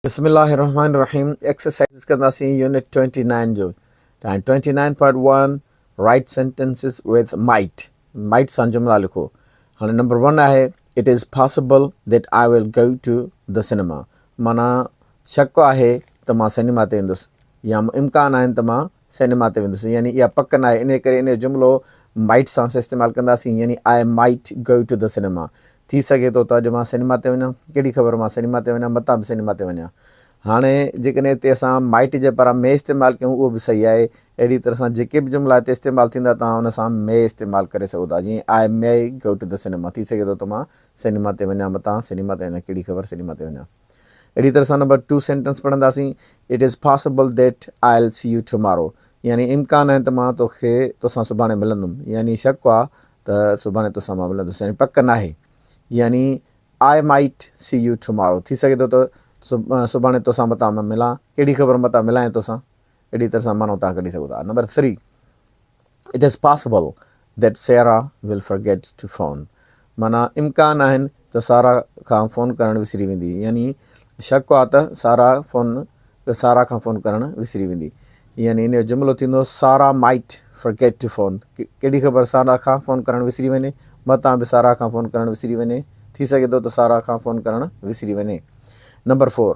بسم الله الرحمن الرحيم ايڪسرسائيز ڪنداسين يونٽ ٽوئنٽي نائن جو ۽ twenty nine point one write sentences with might might سان جملا لکو هاڻي نمبر ون آهي it is possible that I will go to the cinema مانا شڪ آهي ته مان سينيما تي ايندس يا امڪان آهن ته مان سينيما تي ويندس يعني اها پڪ نه آهي انهي ڪري انهي جملو Might سان اسين استعمال ڪنداسين يعني I might go to the cinema ٿي سگهي ٿو ته اڄ مان سينيما تي وڃان ڪهڙي خبر مان سينيما تي وڃان متان به سينيما تي وڃان هاڻي جيڪڏهن هتي اسان Might جي پران May استعمال ڪيون اهو به صحيح آهي اهڙي طرح سان جيڪي به جملا هتي استعمال ٿيندا توهان ان سان May استعمال ڪري سگهو ٿا جيئن I may go to the cinema ٿي سگهي ٿو ته مان سينيما تي وڃان متان سينيما تي وڃان ڪهڙي خبر سينيما تي وڃان. اهڙي طرح سان نمبر ٽو سينٽنس پڙهنداسين it is possible that I'll see you tomorrow يعني امڪان آهي ته مان توکي توسان سڀاڻي ملندم يعني شڪ آ ته سڀاڻي توسان مان ملندس يعني پڪ ناهي يعني I might see you tomorrow ٿي سگهي ٿو ته سڀاڻي توسان متان مان ملان ڪهڙي خبر متان ملان يا توسان اهڙي طرح سان معنو توهان ڪڍي سگهو ٿا. Number three, It is possible that Sara will forget to phone. معنيٰ، امڪان آهن ته سارا کان فون ڪرڻ وسري ويندي. يعني شڪ آهي ته سارا فون سارا کان فون ڪرڻ وسري ويندي. يعني ان جو جملو ٿيندو Sara might forget to phone. ڪهڙي خبر سارا کان فون ڪرڻ وسري وڃي. متان به سارا کان فون ڪرڻ وسري وڃي. ٿي سگهي ٿو ته سارا کان فون ڪرڻ وسري وڃي. Number four.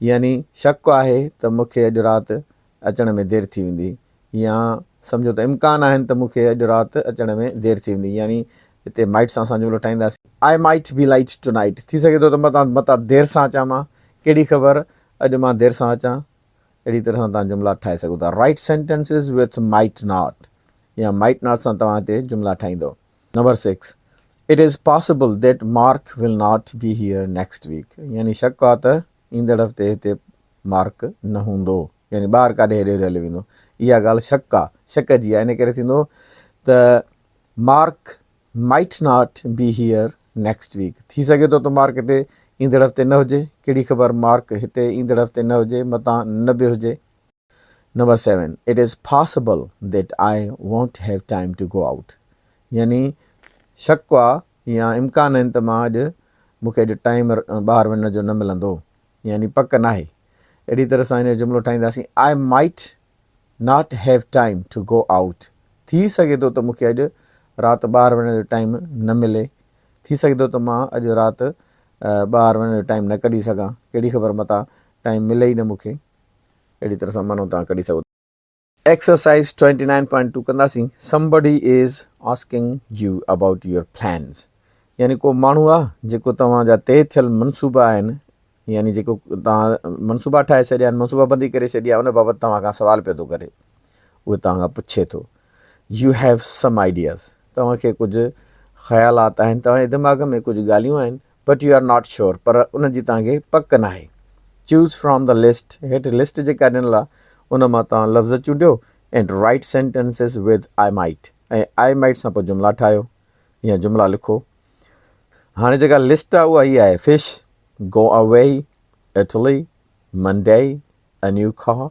يعني شڪ آهي ته مون کي اڄ رات اچڻ ۾ دير ٿي ويندي يا سمجهو ته امڪان آهن ته مون کي اڄ رات اچڻ ۾ دير ٿي ويندي يعني هتي مائٽ سان اسان جملو ٺاهينداسين. I might be late tonight ٿي سگهي ٿو ته مان تان متان دير سان اچان مان ڪهڙي خبر اڄ مان دير سان اچان اهڙي طرح سان توهان جملا ٺاهي سگهو ٿا Write sentences with might not يا might not سان توهان هتي جملا ٺاهيندو. Number six, it is possible that Mark will not be here next week يعني شڪ آهي ته ايندڙ هفتي هتي مارڪ نه هوندو يعني ٻاهر ڪاڏي هيڏي هوڏي هليو ويندو اها ڳالهه شڪ آهي شڪ جي آهي ان ڪري ٿيندو ته Mark might not be here next week ٿي سگهي ٿو ته مارڪ هتي ايندڙ هفتي نه هجي ڪهڙي خبر مارڪ هتي ايندڙ هفتي نه هجي متان نه به هجي number seven, it is possible that I won't have time to go out يعني شڪ آ يا امڪان آهن ته مان اڄ مون کي اڄ ٽائيم ٻاهر وڃڻ جو نه ملندو يعني پڪ ناهي. اهڙي طرح سان هن جو جملو ٺاهينداسين I might not have time to go out ٿي سگهي ٿو ته مون کي اڄ رات ٻاهر وڃڻ جو ٽائيم نه ملي ٿي سگهي ٿو ته مان اڄ رات ٻاهر وڃڻ جو ٽائيم نه ڪڍي سگهان ڪهڙي خبر متان ٽائيم ملي ئي نه مون کي. اهڙي طرح سان معنو توهان ڪڍي سگهو ٿا. Exercise twenty nine point two ڪنداسين Somebody is asking you about your plans يعني ڪو ماڻهو آ جيڪو توهان جا طئي ٿيل منصوبا آهن يعني جيڪو توهان منصوبا ٺاهي ڇڏيا آهن منصوبا بندي ڪري ڇڏي آهي ان بابت توهان کان سوال پيو ٿو ڪري اهو توهان کان پڇي ٿو يو هيو سم آئيڊياز توهان کي ڪجهه خيالات آهن توهان جي دماغ ۾ ڪجهه ڳالهيون آهن but you are not sure پر ان جي توهان کي پڪ ناهي چوز فرام دا لسٽ هيٺ لسٽ جيڪا ڏنل آهي ان مان توهان لفظ چونڊيو and write sentences with I might ۽ I might سان پوء جملا ٺاهيو يا جملا لکو هاڻي جيڪا لسٽ آهي اها هي آهي fish go away Italy Monday a نيو کاهه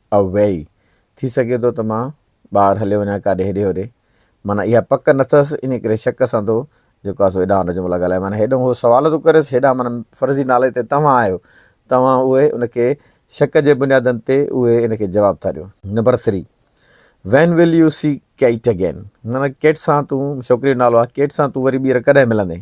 اويئي ٿي سگهي ٿو ته مان ٻاهر هليو وڃان ڪاڏي هيڏي هوڏي معنيٰ اها پڪ نه ٿس انهي ڪري شڪ سان ٿو جيڪو آهي سو ايڏانهن وٽ اچي مون لاء ڳالهائي معنيٰ هيڏانهن هو سوال ٿو ڪريس هيڏانهن معنيٰ فرضي نالي تي توهان آهيو توهان اهي ان کي شڪ جي بنيادن تي اهي ان کي جواب ٿا ڏيو. Number three when will you see Kate again معنيٰ ڪيٽ سان تون ڇوڪري جو نالو آهي ڪيٽ سان تون وري ٻيهر ڪڏهن ملندين؟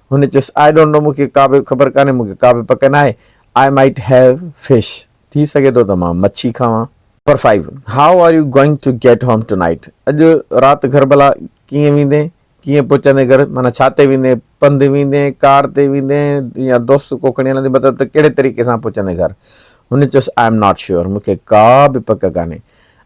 هن چيس، آء ڊونٽ نو مون کي ڪا به خبر ڪانهي، مون کي ڪا به پڪ ناهي، آء مائيٽ هيو فش، ٿي سگهي ٿو ته مان مڇي کاوان. Number five, how are you going to get home tonight, اڄ رات گهر ڀلا ڪيئن ويندين، ڪيئن پهچندين گهر، معنيٰ ڇا تي ويندين، پنڌ ويندين، ڪار تي ويندين يا دوست ڪو کڻي هلندين مطلب ته ڪهڙي طريقي سان پهچندين گهر. هن چيس، آء ايم ناٽ شيور، مون کي ڪا به پڪ ڪانهي،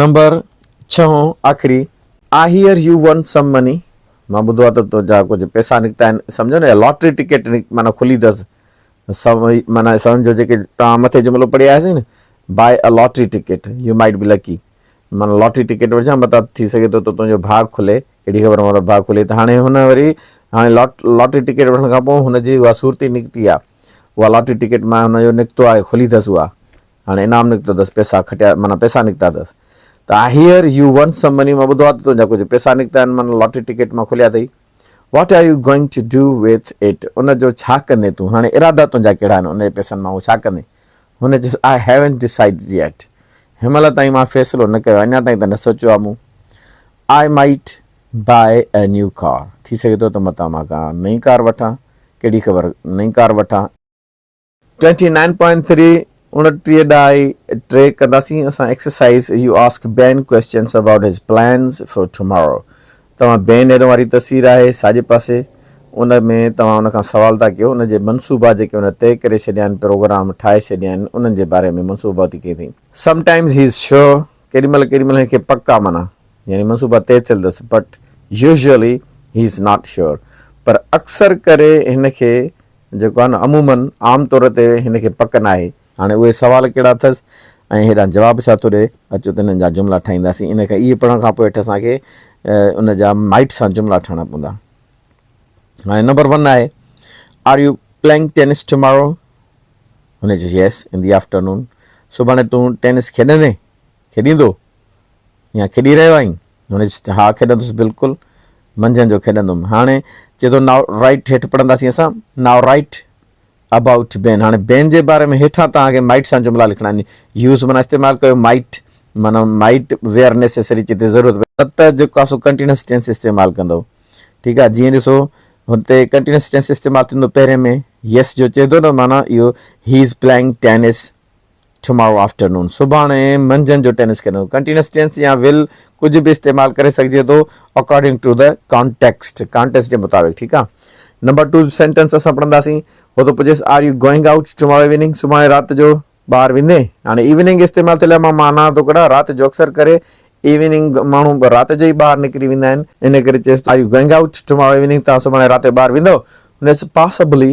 نمبر ڇهون آخري I hear you won some money مان ٻڌو آهي ته تنهنجا ڪجهه پئسا نڪتا آهن سمجهو نه لاٽري ٽڪيٽ معنيٰ کلي اٿس سم معنيٰ سمجهو جيڪي توهان مٿي جملو پڙهي آياسين نه buy a lottery ticket you might be lucky معنيٰ لاٽري ٽڪيٽ وٺجان متان ٿي سگهي ٿو ته تنهنجو ڀاڳ کلي اهڙي خبر مطلب ڀاڳ کلي ته هاڻي هن وري هاڻي لاٽ لاٽري ٽڪيٽ وٺڻ کان پوء هن جي اها صورت ئي نڪتي آهي اها لاٽري ٽڪيٽ معنيٰ هن جو نڪتو آهي کلي اٿس اها هاڻي انعام نڪتو اٿس پئسا کٽيا معنيٰ پئسا نڪتا اٿس ته I hear you won some money مان ٻڌو آهي ته تنهنجا ڪجهه پئسا نڪتا آهن معنيٰ لاٽري ٽڪيٽ مان کليا اٿئي what are you going to do with it ان جو ڇا ڪندين تون هاڻي ارادا تنهنجا ڪهڙا آهن ان جي پئسن مان اهو ڇا ڪندين هن چيس آء هيونٽ ڊسائيڊڊ ييٽ هن مهل تائين مان فيصلو نه ڪيو اڃا تائين ته نه سوچيو آهي مون آء مائيٽ بائي اي نيو ڪار ٿي سگهي ٿو ته متان مان ڪا نئين ڪار وٺان ڪهڙي خبر نئين ڪار وٺان ٽوئنٽي نائن پوائنٽ ٿري، اڻٽيهه ڊائي ٽي، ڪنداسين اسان exercise you ask Ben questions about his plans for tomorrow توهان بين ايرو واري تصوير آهي ساڄي پاسي ان ۾ توهان ان کان سوال ٿا ڪيو ان جي منصوبا جيڪي ان طئي ڪري ڇڏيا آهن پروگرام ٺاهي ڇڏيا آهن انهن جي باري ۾ منصوبا ٿي ڪئي ٿي سم ٽائمز هي از شور ڪيڏي مهل ڪيڏي مهل هن کي پڪ آهي معنيٰ يعني منصوبا طئي ٿيل اٿس but usually he is not sure پر اڪثر ڪري هن کي جيڪو آهي نه عموماً عام طور تي هن کي پڪ ناهي. هاڻي اهي سوال ڪهڙا اٿس ۽ هيڏانهن جواب ڇا ٿو ڏئي؟ اچو ته هنن جا جملا ٺاهينداسين. ان کي اهي پڙهڻ کان پوء هيٺ اسان کي ان جا مائٽ سان جملا ٺاهڻا پوندا. هاڻي نمبر ون آهي Are you playing tennis tomorrow؟ هن چيس Yes in the afternoon. سڀاڻي تون ٽينس کيڏندين، کيڏيندو يا کيڏي رهيو آهين؟ هن چيس ته ها کيڏندس بلڪل منجهند جو کيڏندم هاڻي چي ٿو ناء رائيٽ هيٺ پڙهنداسين اسان ناء رائيٽ ابائوٽ بين هاڻي بين جي باري ۾ هيٺان توهان کي مائيٽ سان جملا لکڻا آهن يوز معنيٰ استعمال ڪيو مائيٽ معنيٰ مائيٽ ويئر نيسيسري چي ته ضرورت پئي ته جيڪو اسو ڪنٽينيوس ٽينس استعمال ڪندو ٺيڪ آهي جيئن ڏسو هتي ڪنٽينيوس ٽينس استعمال ٿيندو پهرين ۾ يس جو چي ٿو نه معنيٰ اهو he is playing tennis tomorrow afternoon, سڀاڻي منجهند جو ٽينس کيڏڻو. ڪنٽينيوس ٽينس يا ول ڪجهه به استعمال ڪري سگهجي ٿو according to the context, contest جي مطابق ٺيڪ آ. نمبر ٽو سينٽينس اسان پڙهنداسين. هو ٿو پڇيس are you going out tomorrow evening, سڀاڻي رات جو ٻاهر ويندين؟ هاڻي ايوننگ استعمال ٿيل آ مان معنيٰ ٿو ڪڍان رات جو اڪثر ڪري ايوننگ ماڻهو رات جو ئي ٻاهر نڪري ويندا آهن ان ڪري چيس are you going out tomorrow evening تان سڀاڻي رات جو ٻاهر ويندو؟ هن چيس پاسبلي.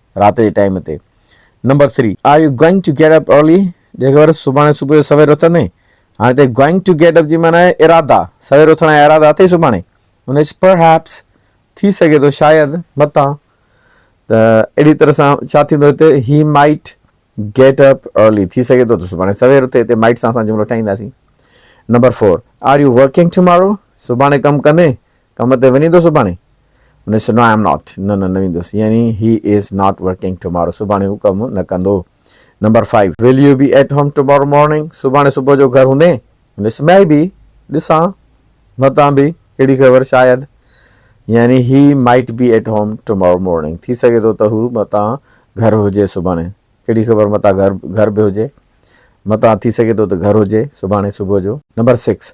رات جي ٽائيم تي number three are you going to get up early جي خبر سڀاڻي صبح جو سوير اٿندين هاڻي تي گوئنگ ٽو گيٽ اپ جي معنيٰ آهي ارادا سوير اٿڻ جا ارادا اٿئي سڀاڻي ان پرهيپس ٿي سگهي ٿو شايد متان ته اهڙي طرح سان ڇا ٿيندو هتي he might get up early ٿي سگهي ٿو ته سڀاڻي سوير اٿي هتي مائٽ سان اسان جملو ٺاهينداسين number four are you working tomorrow سڀاڻي ڪم ڪندين ڪم تي وڃيندو سڀاڻي؟ هن چيس، نو آء ايم ناٽ، نه نه نه ويندس، يعني he is not working tomorrow, سڀاڻي هو ڪم نه ڪندو. Number five, will you be at home tomorrow morning, سڀاڻي صبح جو گهر هوندين؟ هن چيس، مي بي، ڏسان، متان به، ڪهڙي خبر، شايد، يعني he might be at home tomorrow morning, ٿي سگهي ٿو ته هو متان گهر هجي سڀاڻي، ڪهڙي خبر متان گهر به هجي، متان ٿي سگهي ٿو ته گهر هجي سڀاڻي صبح جو. نمبر سڪس،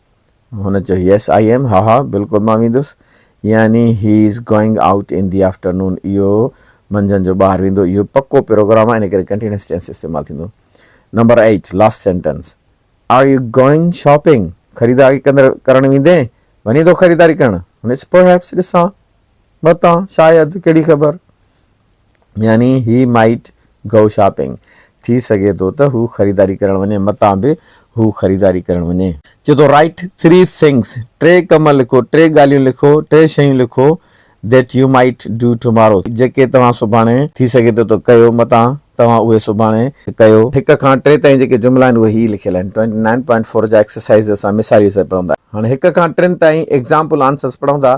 هن چيو يس آء ايم ها ها بلڪل مان ويندس يعني he is going out in the afternoon اهو منجهند جو ٻاهر ويندو اهو پڪو پروگرام آهي ان ڪري ڪنٽينيوس ٽينس استعمال ٿيندو number eight last sentence are you going shopping خريداري ڪندر ڪرڻ ويندين وڃي ٿو خريداري ڪرڻ هن پر هيپس ڏسان متان شايد ڪهڙي خبر يعني هي مائيٽ گو شاپنگ. ٿي سگهي ٿو ته هو خريداري ڪرڻ وڃي. متان به هو خريداري ڪرڻ وڃي. چئي ٿو رائيٽ ٿري ٿنگس، ٽي ڪم لکو، ٽي ڳالهيون لکو، ٽي شيون لکو، that you might do tomorrow, جيڪي توهان سڀاڻي ٿي سگهي ٿو ته ڪيو، متان توهان اهي سڀاڻي ڪيو. هڪ کان ٽي تائين جيڪي جملا آهن اهي هي لکيل آهن. ٽوئنٽي نائن پوائنٽ فور جا ايڪسرسائيز اسان مثالي سر پڙهندا. هاڻي هڪ کان ٽن تائين ايگزامپل آنسرز پڙهندا